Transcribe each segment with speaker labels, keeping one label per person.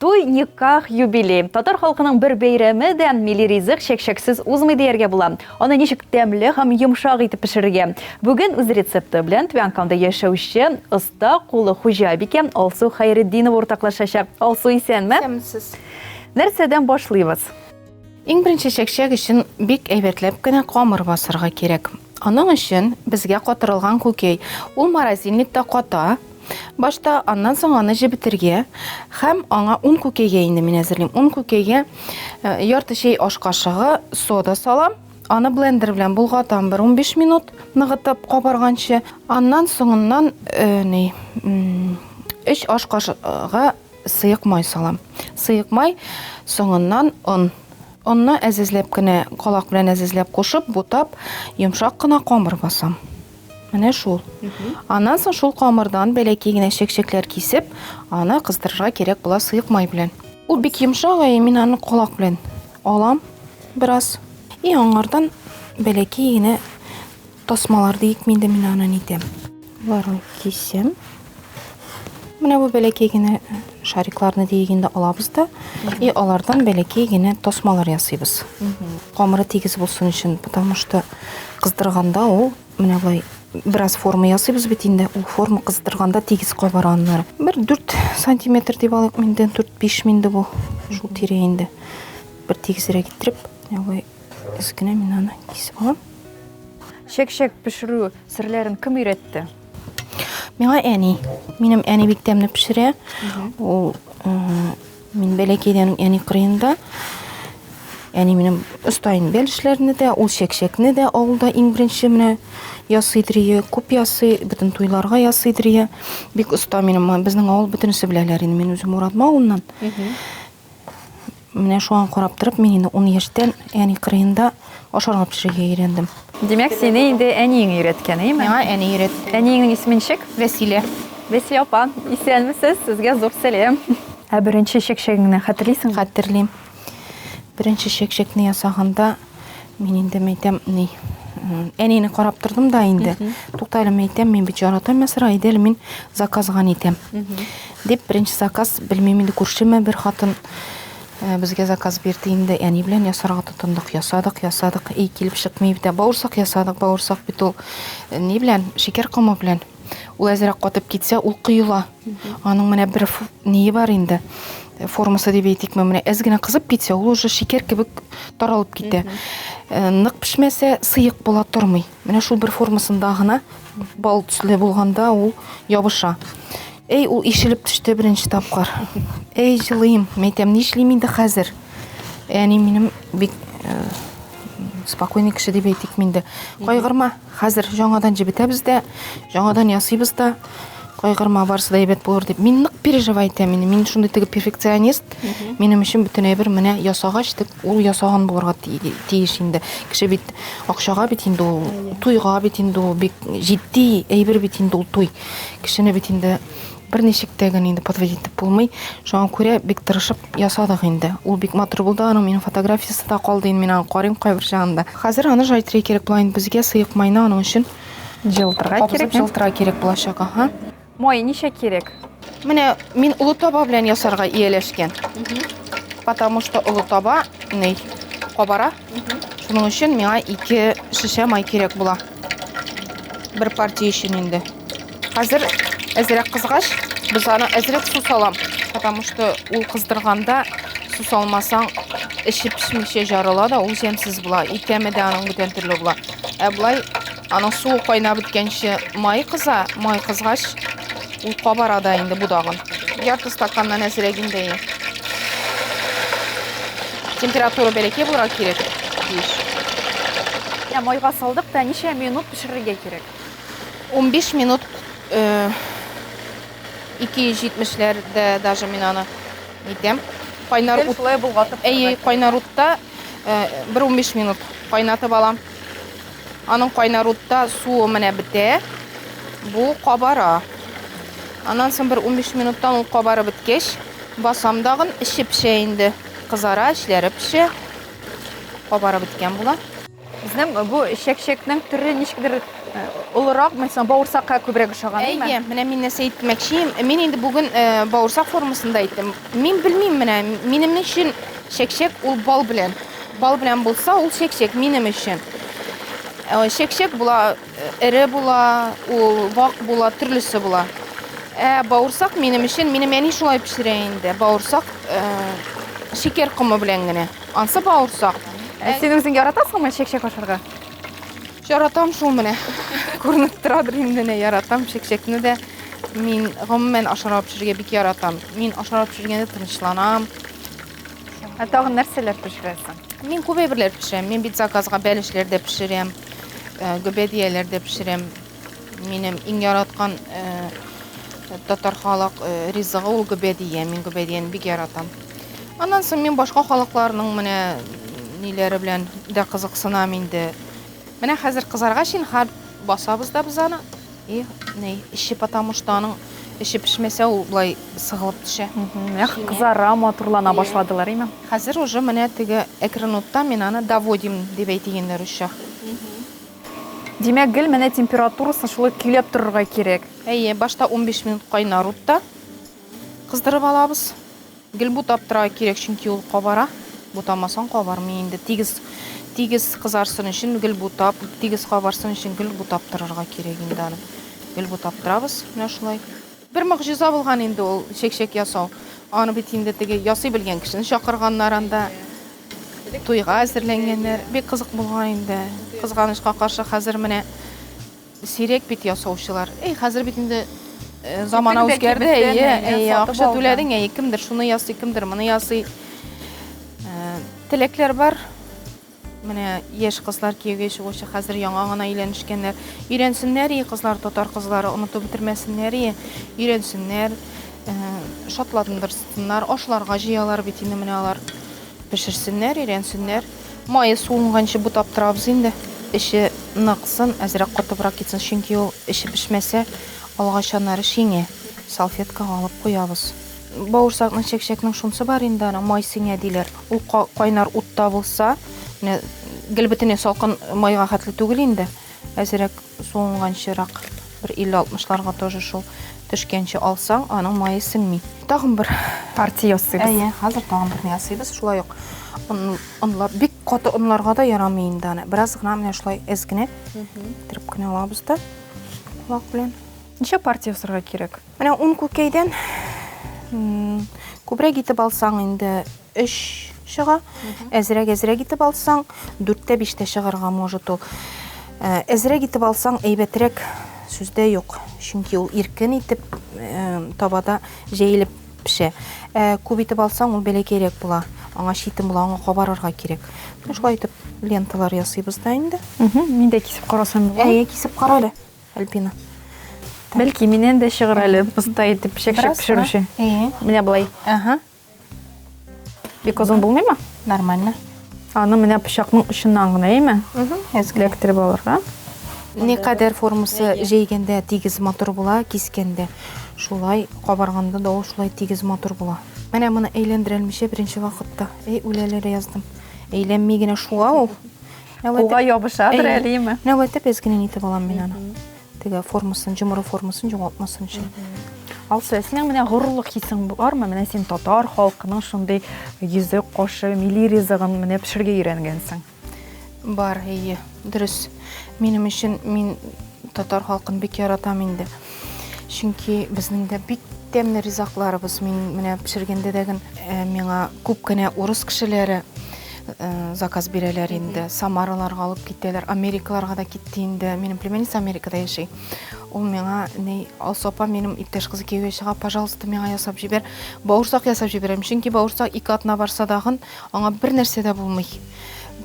Speaker 1: Туй, никах, юбилей. Татар халкының бер бәйрәме дә милли ризык чәкчәксез узмый дияргә була. Аны ничек тәмле һәм йомшак итеп пешерергә? Бүген үз рецепты белән Түбәнкамда яшәүче оста кулы хуҗабикә Алсу Хәйретдинова уртаклашачак. Алсу, исәнме? Исәнмесез.
Speaker 2: Нәрсәдән
Speaker 1: башлыйбыз? Иң беренче
Speaker 2: чәкчәк өчен бик әйбәтләп кенә камыр басырга кирәк. Аның өчен безгә катырылган күкәй. Ул морозильникта ката. Башта аннан соң аны җебетергә һәм аңа ун күкәйгә инде мин әзерлим. Ун күкәйгә э, ярты чәй аш кашыгы сода салам. Аны блендер белән болгатам бер 15 минут ныгытып кабарганчы. Аннан соңыннан э, ни 3 аш кашыгы Сыек май салам. Сыек май, соңыннан он. Онны әзәзләп кенә, калак белән әзәзләп кушып, бутап, йомшак кына камыр басам. Менә шул. Аннан соң шул камырдан бәләкәй генә чәкчәкләр кисеп, аны кыздырырга кирәк була сыек май белән. Ул бик йомшак, әйе, мин аны калак белән алам бераз. И аңардан бәләкәй генә Тасмалар диик мин дә мин аны нитәм. Боларын кисәм. Менә бу бәләкәй генә шарикларны диек инде алабыз да, и алардан бәләкәй генә тасмалар ясыйбыз. Камыры тигез булсын өчен, потому что кыздырганда ул менә болай бераз форма ясыйбыз бит инде ул форма кыздырганда тигез кабара аннары бер дүрт сантиметр дип алыйк инде дүрт биш инде бу шул тирә инде бер тигезрәк иттереп Без генә мин аны кисеп алам. Чәк-чәк
Speaker 1: пешерү серләрен кем өйрәтте? Миңа
Speaker 2: әни. Минем әни бик тәмле пешерә. Ул мин бәләкәйдән әни кырыенда. Әни минем оста инде бәл эшләрне дә, ул чәк-чәкне дә авылда иң беренче менә ясый дрие, күп ясый, бөтен туйларга ясый дрие. Бик оста минем, безнең авыл бөтенесе беләләр инде, мин үзем Мурадма авылыннан. Менә шуңа карап торып, мин инде 10 яшьтән әни кырыенда ашарга пешерергә өйрәндем. Димәк, сине
Speaker 1: инде әниең өйрәткән, әйеме? Миңа әни өйрәтте.
Speaker 2: Әниеңнең исеме ничек?
Speaker 1: Вәсилә.
Speaker 2: Вәсилә апа,
Speaker 1: исәнмесез, сезгә зур сәлам. Ә беренче чәкчәгеңне хәтерлисеңме? Хәтерлим.
Speaker 2: Беренче чәкчәкне ясаганда, Мин инде мәйтәм, ни, әнене карап тордым да инде. Тукта әле мәйтәм, мин бит яратам ясыра, иде мин заказган итәм. Дип, беренче заказ, белмим инде күршеме бер хатын э, безгә заказ бирде инде, әни белән ясарга тотындык, ясадык, ясадык, и килеп чыкмый бит. Бауырсак ясадык, бауырсак бит ул э, ни белән, шикәр комы белән. Ул әзрәк катып китсә, ул коела. Аның менә бер ние бар инде. Формасы дип әйтикме, менә әз генә кызып китсә, ул уже шикәр кебек таралып китә. Э, нык пешмәсә, сыек була тормый. Менә шул бер формасында гына бал төсле булганда ул ябыша. Әй, ул ишелеп төште беренче тапкыр. Әй, җылыйм. Мәйтәм, нишлим инде хәзер? Әни минем бик э, спокойный кеше дип әйтик миндә. Кайгырма, Хәзер жаңадан җебетәбез дә, жаңадан ясыйбыз да. Кайгырма, барысы да әйбәт булыр дип. Мин нык переживай итәм инде. Мин шундый теге перфекционист. Минем өчен бөтен әйбер менә ясагач дип, ул ясаган булырга тиеш инде. Кеше бит акчага бит инде ул, туйга бит инде ул, бик җитди әйбер бит инде ул туй. Кешене бит инде Бер ничек тә генә инде подводить итеп булмый. Шуңа күрә бик тырышып ясадык инде. Ул бик матур булды, аның минем фотографиясе дә калды, инде мин аны карыйм кайбер чагында. Хәзер аны жайтырга кирәк була инде безгә, сыек майны аның өчен Җылытырга кирәк.
Speaker 1: Кабызып җылытырга кирәк булачак,
Speaker 2: аһа. Май ничә
Speaker 1: кирәк? Менә мин
Speaker 2: олы таба белән ясарга ияләшкән. Потому что олы таба ни, кабара. Шуның өчен миңа ике шешә май кирәк була. Бер партия өчен инде. Хәзер әзрәк кызгач, без аны әзрәк су салам. Потому что ул кыздырганда су салмасаң, эче пешмичә жарыла да, ул җәмсез була. Икәме дә аның бүтән төрле була. Ә былай аның суы кайнап беткәнче май кыза, май кызгач Ул кабара да инде будагын. Ярты стаканнан әзрәк инде. Температура бәләкәй булырга кирәк. Биш.
Speaker 1: Ә майга салдык та ничә минут пешерергә кирәк? 15
Speaker 2: минут 270-ләрдә э, даже мин аны әйтәм. Кайнар ут. Шулай булгатып. Әйе,
Speaker 1: кайнар утта
Speaker 2: э, бер 15 минут кайнатып алам. Аның кайнар утта суы менә бетә. Бу кабара. Аннан соң бер 15 минуттан ул кабарып беткәч, басам дагын, эче пешә инде. Кызара, эчләре пешә.
Speaker 1: Кабарып
Speaker 2: беткән була.
Speaker 1: Безнең
Speaker 2: бу
Speaker 1: чәкчәкнең
Speaker 2: төре
Speaker 1: ничектер олырак, мин соң бавырсакка күбрәк ошаган, әйе. Әйе, менә мин нәрсә әйтмәкче
Speaker 2: идем. Мин инде бүген бавырсак формасында әйттем. Мин белмим менә, минем өчен чәкчәк ул бал белән. Бал белән булса, ул чәкчәк минем өчен. Э, чәкчәк була, э, эре була, ул вак була, төрлесе була. Ә бауырсак минем өчен, минем әни шулай пешерә инде. Бауырсак э, шикәр комы белән генә. Ансы бауырсак. Ә син үзең
Speaker 1: яратасыңмы чәкчәк ашарга? Яратам
Speaker 2: шул менә. Күренеп торадыр инде, менә яратам чәкчәкне дә. Мин гомумән ашарга пешерергә бик яратам. Мин ашарга пешергәндә тынычланам.
Speaker 1: Ә тагын нәрсәләр пешерәсең? Мин күп әйберләр
Speaker 2: пешерәм. Мин бит заказга бәлешләр дә пешерәм, э, гөбәдияләр дә пешерәм. Минем иң яраткан э, татар халык э, ризыгы ул гөбәдия. Мин гөбәдияне бик яратам. Аннан соң мин башка халыкларның менә ниләре белән дә кызыксынам инде. Менә хәзер кызаргач инхар басабыз да без аны. И, ни, эче потому что аның эче пешмәсә ул болай сыгылып төшә. Менә кызара,
Speaker 1: матурлана башладылар, име? Хәзер уже менә
Speaker 2: теге әкрен утта мин аны доводим дип әйтегеннәр русча. Димәк,
Speaker 1: гел менә температурасын шулай көйләп торырга кирәк. Әйе, башта унбиш
Speaker 2: минут кайнар утта кыздырып алабыз. Гел бутап торырга кирәк, чөнки ул кабара. Бутамасаң кабармый инде. Тигез, тигез кызарсын өчен гел бутап, тигез кабарсын өчен гел бутап торырга кирәк инде аны. Гел бутап торабыз, менә шулай. Бер могҗиза булган инде ул чәкчәк ясау. Аны бит инде теге ясый белгән кешене чакырганнар анда. Туйга әзерләнгәннәр. Бик кызык булган инде. Кызганычка каршы, хәзер менә Сирәк бит ясаучылар. Эй, хәзер бит инде замана үзгәрде, әйе, әйе, акча түләдең, әйе, кемдер шуны ясый, кемдер моны ясый. Теләкләр бар. Менә яшь кызлар кияүгә чыгучы хәзер яңа гына өйләнешкәннәр. Өйрәнсеннәр, и кызлар, татар кызлары онытып бетермәсеннәр, и өйрәнсеннәр, шатландырсыннар, ашларга җыялар бит инде менә алар. Пешерсеннәр, өйрәнсеннәр. Мае суынганчы бутап торабыз инде. Эче ныксын, әзрәк катыбрак китсен, чөнки ул эче пешмәсә, алгач аннары шиңә. Салфеткага алып куябыз. Бавырсакның, чәкчәкнең шунысы бар инде аның, май сеңә диләр. Ул кайнар утта булса, менә гел бөтенләй салкын майга хәтле түгел инде, әзрәк. Суынган чирак бер 50-60-ларга тоже шул төшкәнче алсаң, аның мае сеңми. Тагын бер партия ясыйбыз.
Speaker 1: Әйе, хәзер тагын берне
Speaker 2: ясыйбыз. Шулай ук онлар бик каты онларга да ярамый инде аны. Бераз гына менә шулай эз генә иттереп кенә алабыз да кулак белән. Ничә партия
Speaker 1: ясарга кирәк? Менә ун күкәйдән
Speaker 2: күбрәк итеп алсаң инде өч чыга, әзрәк әзрәк итеп алсаң дүрттә биштә чыгарга может ул. Э, әзрәк итеп алсаң әйбәтрәк сүздә юк, чөнки ул иркен итеп э, табада җәелеп пешә. Ә күп итеп алсаң ул бәләкәйрәк була, аңа читен була, аңа кабарырга кирәк. Шулай итеп ленталар ясыйбыз да инде. Мин дә кисеп
Speaker 1: карасам була. Әйе, кисеп кара әле.
Speaker 2: Альбина. Бәлки
Speaker 1: миннән дә чыгыр әле оста итеп чәкчәк пешерүче. Менә болай. Ага. Бик озын булмыймы? Нормально.
Speaker 2: Аны менә
Speaker 1: пычакның очыннан гына, әйме? Угу. Эләктереп алырга. Не кадәр
Speaker 2: формасы җәйгәндә тигез матур була, кискәндә. Шулай кабарганда да ул шулай тигез матур була. Менә моны әйләндерәлмичә беренче вакытта. Эй, үләләр яздым. Әйләнми генә шуга ул. Кулга
Speaker 1: ябышадыр әлеме? Нәүәттә без генә нитеп
Speaker 2: алам мин аны. Теге формасын, җомыры формасын җоңалтмасын өчен. Алсу,
Speaker 1: синең менә горурлык хисең бармы? Менә син татар халкының шундый йөзе, кошы, милли ризыгын менә пешергә өйрәнгәнсең. Бар,
Speaker 2: әйе, дөрес. Минем өчен мин татар халкын бик яратам инде. чөнки безнең дә бик тәмле ризакларыбыз мин менә пешергәндә дә э, миңа күп кенә урыс кешеләре э, заказ бирәләр инде самараларга алып китәләр америкаларга да китте инде минем племянница америкада яши ул миңа ни алсу апа минем иптәш кызы кияүгә чыга пожалуйста миңа ясап җибәр бауырсак ясап җибәрәм чөнки бауырсак ике атна барса дагын аңа бер нәрсә дә булмый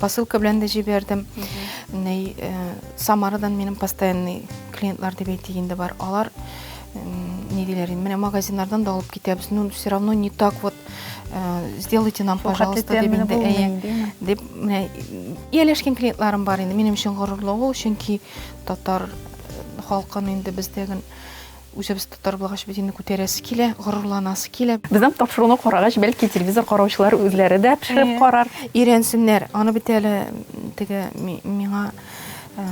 Speaker 2: Посылка белән дә җибәрдем. Ней э, Самарадан минем постоянный клиентлар дип әйтик инде бар. Алар не диләр инде. Менә магазиннардан да алып китәбез. Ну, все равно не так вот э, сделайте нам, пожалуйста, дип инде. Әйе. Дип менә ияләшкән клиентларым бар инде. Минем өчен горурлык ул, чөнки татар э, халкын инде бездәген Үзебез татар булгач бит инде күтәрәсе килә, горурланасы килә. Безнең тапшыруны карагач,
Speaker 1: бәлки телевизор караучылар үзләре дә пешереп э, карар. Өйрәнсеннәр.
Speaker 2: Аны бит әле теге миңа э,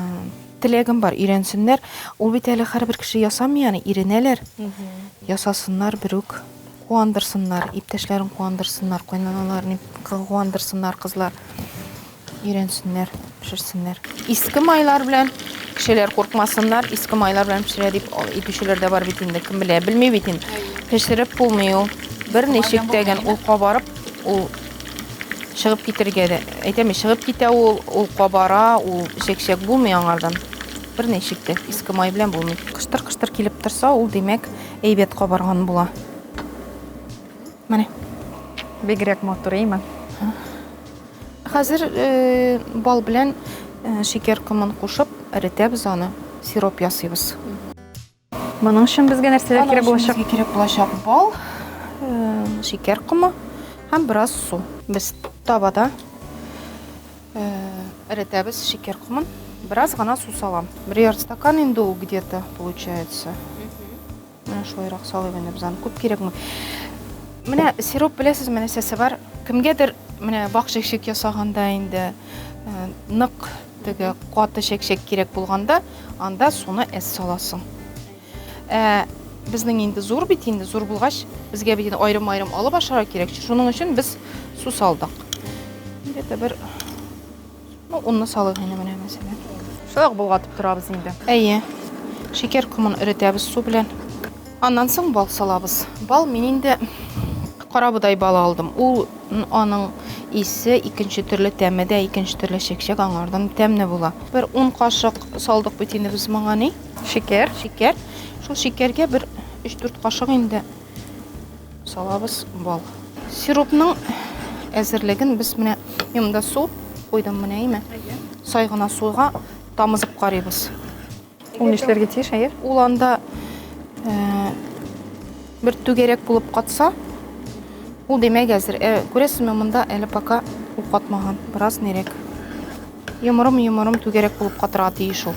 Speaker 2: теләгем бар, өйрәнсеннәр. Ул бит әле һәрбер кеше ясамый аны, иренәләр. Ясасыннар берүк, куандырсыннар, иптәшләрен куандырсыннар, кайнаналарын куандырсыннар кызлар. Өйрәнсеннәр, пешерсеннәр. Иске майлар белән кешеләр куркмасыннар, иске майлар белән пешерә дип әйтүчеләр дә бар бит инде, кем белә, белми бит инде. Пешереп булмый ул. Бер ничек тә генә ул кабарып, ул чыгып китергә дә. Әйтәме, чыгып китә ул, ул кабара, ул чәк-чәк булмый аңардан. Бер ничек тә иске май белән булмый. Кыштыр-кыштыр килеп торса, ул димәк әйбәт кабарган була. Менә.
Speaker 1: Бигрәк матур, әйме? Хәзер
Speaker 2: бал белән шикәр комын кушып, эретәбез аны, сироп ясыйбыз.
Speaker 1: Моның өчен безгә нәрсәләр кирәк булачак? Безгә кирәк булачак бал,
Speaker 2: шикәр комы һәм бераз су. Без табада эретәбез шикәр комын. Бераз гына су салам. Бер ярты стакан инде ул где-то получается. Менә шулайрак салыйм инде без аны. Күп кирәкми. Менә сироп беләсезме нәрсәсе бар? Кемгәдер менә бак чәкчәк ясаганда инде э, нык теге каты чәкчәк кирәк булганда, анда суны әз саласың. Ә безнең инде зур бит инде, зур булгач, безгә бит инде аерым-аерым алып ашарга кирәк. Шуның өчен без су салдык. Где-то бер Ну, онны салыйк инде менә мәсәлән. Шулай ук болгатып
Speaker 1: торабыз инде. Әйе.
Speaker 2: Шикәр комын эретәбез су белән. Аннан соң бал салабыз. Бал мин инде карабодай балы алдым. Ул аның исе икенче төрле тәме дә, икенче төрле чәкчәк аңардан тәмне була. Бер 10 кашык салдык бит инде без моңа ни? Шикәр. Шикәр. Шул шикәргә бер 3-4 кашык инде Салабыз бал. Сиропның әзерлеген без менә монда су куйдым менә име? Сай гына суга тамызып карыйбыз. Ул
Speaker 1: нишләргә тиеш, әйе? Ул анда
Speaker 2: э, бер түгәрәк булып катса, ул димәк әзер. Э, күрәсезме, монда әле пока ул катмаган, бераз нерәк. Йомырым-йомырым түгәрәк булып катырга тиеш ул.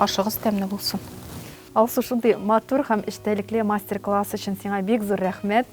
Speaker 2: ашыгыз тәмле булсын алсу
Speaker 1: шундый матур һәм эчтәлекле мастер класс өчен сиңа бик зур рәхмәт